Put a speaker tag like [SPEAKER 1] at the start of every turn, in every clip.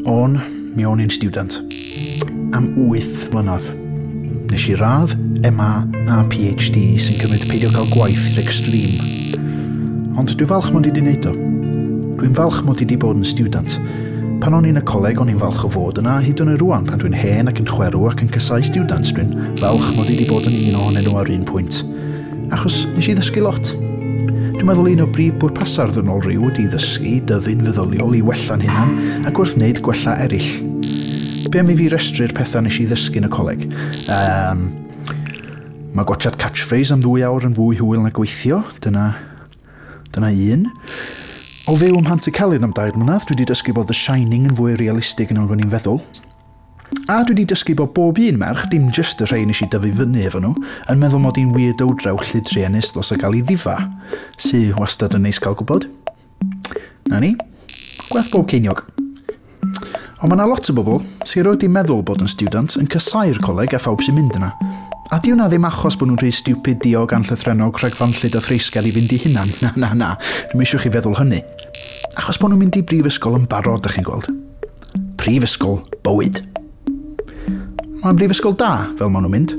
[SPEAKER 1] O'n, mi o'n i'n student. Am 8 mlynedd. Nes i radd MA a PhD sy'n cymryd peidio cael gwaith i'r extreme. Ond dwi'n falch mod i wedi wneud o. Dwi'n falch mod i wedi bod yn student. Pan o'n i'n y coleg o'n i'n falch o fod yna hyd yn oed rwan pan dwi'n hen ac yn chwerw ac yn casau students dwi'n falch mod i wedi bod yn un ohonyn nhw ar un pwynt. Achos nes i ddysgu lot. Dwi'n meddwl un o brif bwrpasau'r ddynol rhyw ydy ddysgu, dyfu'n feddyliol i wella'n hunan ac wrth wneud gwella eraill. Be am i fi restru'r pethau nes i ddysgu yn y coleg? Um, mae gwachad catchphrase am ddwy awr yn fwy hwyl na gweithio, dyna, dyna un. O fyw ym Mhant y Celyn am dair mlynedd, dwi wedi dysgu bod The Shining yn fwy realistig yn o'n i'n feddwl. A dwi 'di dysgu bod bob un merch, dim jyst y rhei nes i dyfu fyny efo nhw, yn meddwl mod i'n weirdo draw llid truenus ddos a gal i ddifa. Sy wastad yn neis gal gwbod. 'Na ni. Gwerth bob ceiniog. Ond ma' 'na lot o bobl, sy erioed 'di meddwl bod yn stiwdant, yn casáu'r coleg a phawb sy'n mynd yna. A 'di hwnna ddim achos bod nhw'n rhy stiwpid, diog, anllythrennog, rhagfanllyd a threisgar i fynd i hunan. Na, na, na. Dwi'm eisiau chi feddwl hynny. Achos bod nhw'n mynd i brifysgol yn barod, 'dach chi'n gweld. Prifysgol bywyd. Mae'n brifysgol da, fel maen nhw'n mynd.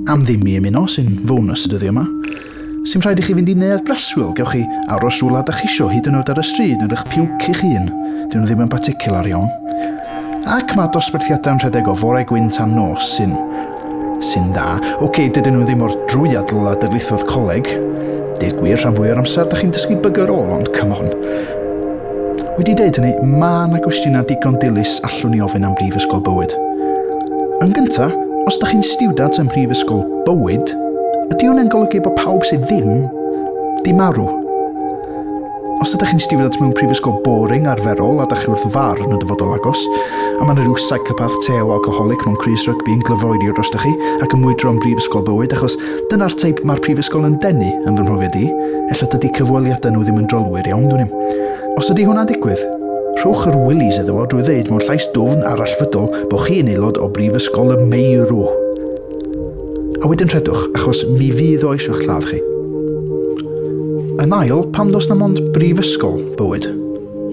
[SPEAKER 1] Am ddim i ymuno, sy'n fônws y dyddiau yma. Sy'n rhaid i chi fynd i neuadd breswyl, gewch chi aros rhywle da chisio, hyd yn oed ar y stryd yn rhych piwc i'ch hun. Dyn nhw ddim yn particular iawn. Ac mae dosbarthiadau'n rhedeg o fore gwyn tan nos, sy'n sy'n dda. Ok, dydyn nhw ddim o'r drwyadl a darlithodd coleg. Deg gwir, rhan fwy o'r amser, da chi'n dysgu bygger ôl, ond come on. Wedi deud hynny, mae yna gwestiynau digon dilys allwn ni ofyn am Brifysgol Bywyd. Yn gynta, os da chi'n stiwdant ym Mhrifysgol Bywyd, ydy hwnna'n golygu bod pawb sydd ddim di marw? Os ydych chi'n stiwdant mewn prifysgol boring, arferol, a dach chi wrth farn o dyfodol agos, a mae 'na ryw psychopath tew alcoholic mewn crys rygbi yn glyfoeirio drostoch chi ac yn mwydro yn brifysgol bywyd achos dyna'r teip mae'r prifysgol yn denu, yn fy mhrofiad i, ella dydy cyfweliadau nhw ddim yn drylwyr iawn dwn i'm. Os ydy hwnna'n digwydd, rhowch yr willies iddo fo drwy ddeud mewn llais dwfn a rallfydol bo' chi yn aelod o brifysgol y meirw! A wedyn rhedwch, achos mi fydd oes i'ch lladd chi. Yn ail, pam dos na mond brifysgol bywyd?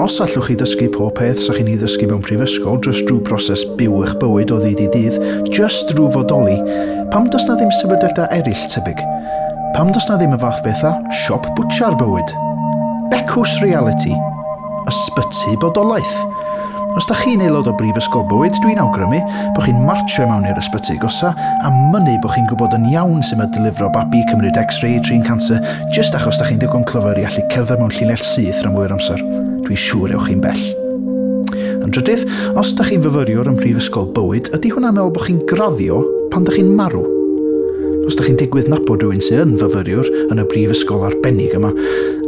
[SPEAKER 1] Os allwch chi ddysgu pob peth sa chi'n ei ddysgu mewn prifysgol just drwy broses byw eich bywyd o ddydd i dydd, just drwy fodoli, pam dos na ddim sefydliadau eraill tebyg? Pam dos na ddim y fath beth â siop bwtsiar bywyd? Becws realiti! Ysbyty bodolaeth. Os da chi'n aelod o Brifysgol Bywyd, dwi'n awgrymu bo chi'n martsio i mewn i'r ysbyty agosa a mynnu bo chi'n gwybod yn iawn su ma delifro babi, cymryd X-ray, trin canser, jyst achos da chi'n ddigon clyfar i allu cerdded mewn llinell syth ran fwy o'r amser. Dwi'n siŵr ewch chi'n bell. Yn drydydd, os da chi'n fyfyriwr ym Mhrifysgol Bywyd, ydy hwnna'n meddwl bo chi'n graddio pan da chi'n marw? Os da chi'n digwydd nabod rhywun sy yn fyfyriwr yn y brifysgol arbennig yma,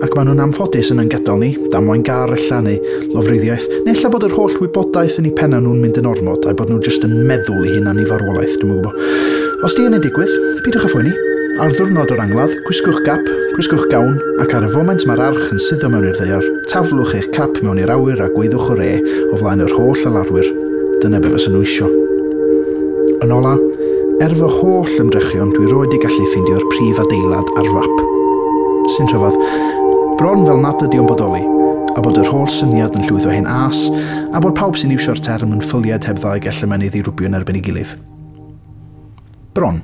[SPEAKER 1] Ac maen nhw'n anffodus yn ein gadael ni, damwain gar ella, neu lofruddiaeth, neu ella bod yr holl wybodaeth yn eu pennau nhw'n mynd yn ormod, a'u bod nhw jyst yn meddwl i hunan i farwolaeth, dwi'm yn gwybod. Os di hynny'n digwydd, peidiwch â phoeni. Ar ddiwrnod yr angladd, gwisgwch gap, gwisgwch gawn, ac ar y foment mae'r arch yn suddo mewn i'r ddaear, taflwch eich cap mewn i'r awyr a gweiddiwch 'Hwrê' o flaen yr holl alarwyr. Dyna be fysa nhw isio. Yn ola, er fy holl ymdrechion dwi roed i gallu ffeindio'r prif adeilad ar fap. Sy'n rhyfedd. Bron fel nad ydi o'n bodoli, a bod yr holl syniad yn llwytho hen âs, a bod pawb sy'n iwsio'r term yn ffylied heb ddau gell y mae'n ei ddirwbio yn erbyn ei gilydd. Bron.